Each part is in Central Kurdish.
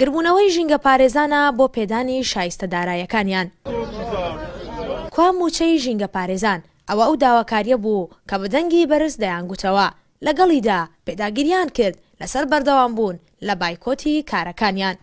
گربوونەوەی ژینگەپارێزانە بۆ پێدانی شایستە دارایەکانیان. کوا مووچەی ژینگەپارێزان؟ ئەوە ئەو داواکارییە بوو کە بە دەنگی بەرز دەیانگوتەوە، لەگەڵیدا پێداگیرییان کرد لەسەر بەردەوامبوون لە بایکۆتی کارەکانیان.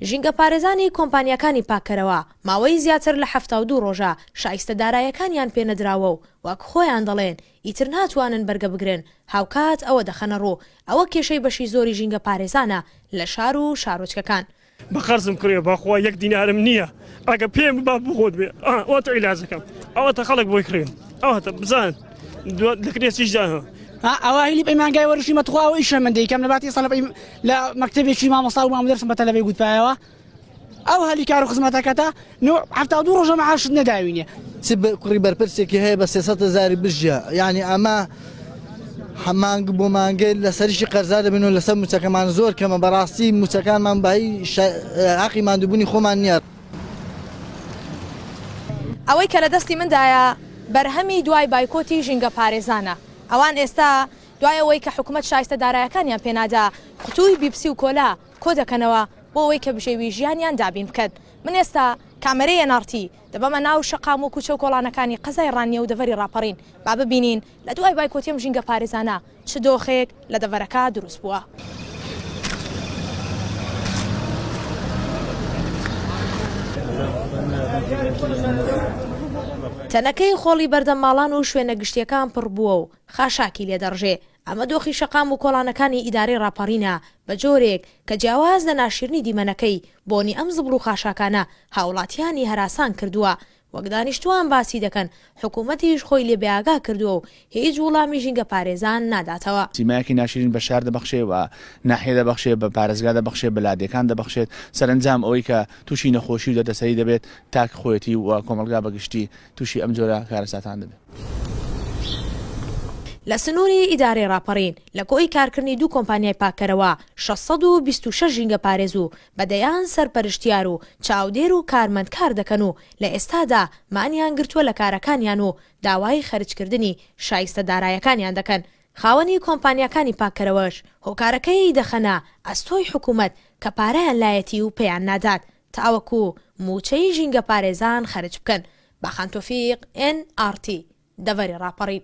ژینگەپارێزانی کۆمپانیاکانی پاککەرەوە ماوەی زیاتر لە حەفتا و دوو ڕۆژە شایستە دارایەکانیان پێنەدراوە و وەک خۆیان دەڵێن ئیتر ناتوانن بەرگە بگرن، هاوکات ئەوە دەخەنە ڕوو، ئەوە کێشەی بەشی زۆری ژینگە پارێزانە لە شار و شارۆچکەکان. بە قەرزم کڕیوە بەخوا یەک دینارم نییە ئەگەر پێم ببا بۆ خۆت بێ ئەوەتە عیلاجەکەم ئەوەتە خەڵک بۆی کڕیم ئەوەتە بزان دوات لە کرێچیش دانەوە ئەوە هیلی پەیمانگای وەرشیمە تخوا ئەو ئیشە من دەیکەم لە باتی سەڵب لە مەکتەبێکی مامۆستا و مامودەرسم بە تەلەبەی گوتپایەوە ئەو هەلی کار و خزمەتەکەتە نوع حەفتا و دوو ڕۆژە معاشت نەداوینێ چ بە- کوڕی بەرپرسێکی هەیە بە سێسەد هەزاری بژیە یعنی ئەمە هە- مانگ بۆ مانگێ لەسەریشی قەرزار دەبین و لەسەر موچەکەمان زۆر کەمە بەڕاستی موچەکانمان بە هی شە- هەقی ماندوبونی خۆمان نییە ئەوەی کە لە دەستی مندایە بەرهەمی دوای بایکۆتی ژینگە پارێزانە ئەوان ئێستا دوای ئەوەی کە حکومەت شایستە دارایەکانیان پێنادا قوتوی بیپسی و کۆلا کۆدەکەنەوە بۆ ئەوەی کە بژێوی ژیانیان دابین بکەن من ئێستا کامەرەی ئێن ئاڕ تی دەبەمە ناو شەقام و کوچەو کۆڵانەکانی قەزای ڕانیە و دەڤەری ڕاپەڕین با ببینین لە دوای بایکۆتی ئەم ژینگە پارێزانە چ دۆخێک لە دەڤەرەکە دروست بووە. تەنەکەی خۆڵی بەردەم ماڵان و شوێنە گشتیەکان پڕبووە و خاشاکی لێدەڕژێ ئەمە دۆخی شەقام و کۆڵانەکانی ئیدارەی ڕاپەڕینە، بە جۆرێک، کە جیاواز لە ناشیرنی دیمەنەکەی، بۆنی ئەم زبڵ و خاشاکانە هاوڵاتیانی هەراسان کردووە، وەک دانیشتووان باسی دەکەن، حکوومەتیش خۆی لێ بێئاگا کردووە و هیچ وڵامی ژینگەپارێزان ناداتەوە. سیمایەکی ناشیرین بە شار دەبەخشێ، بە ناحیە دەبەخشێ، بە پارێزگا دەبەخشێ، بە لادێکان دەبەخشێت، سەرەنجام ئەوەی کە تووشی نەخۆشی و دەردەسەری دەبێت تاک خۆیەتی و کۆمەڵگا بە گشتی، تووشی ئەم جۆرە کارەساتان دەبێت. لە سنووری ئیدارەی ڕاپەڕین، لە کۆی کارکردنی دوو کۆمپانیای پاککەرەوە، شەش سەد و بیست و شەش ژینگەپارێز و بە دەیان سەرپەرشتیار و چاودێر و کارمەند کار دەکەن و لە ئێستادا مانیان گرتووە لە کارەکانیان و داوای خەرجکردنی شایستە دارایەکانیان دەکەن، خاوەنی کۆمپانیاکانی پاککەرەوەش هۆکارەکەی دەخەنە ئەستۆی حکوومەت کە پارەیان لایەتی و پێیان نادات تاوەکو مووچەی ژینگەپارێزان خەرج بکەن، باخان تۆفیق، ئێن ئاڕ تی، دەڤەری ڕاپەڕین.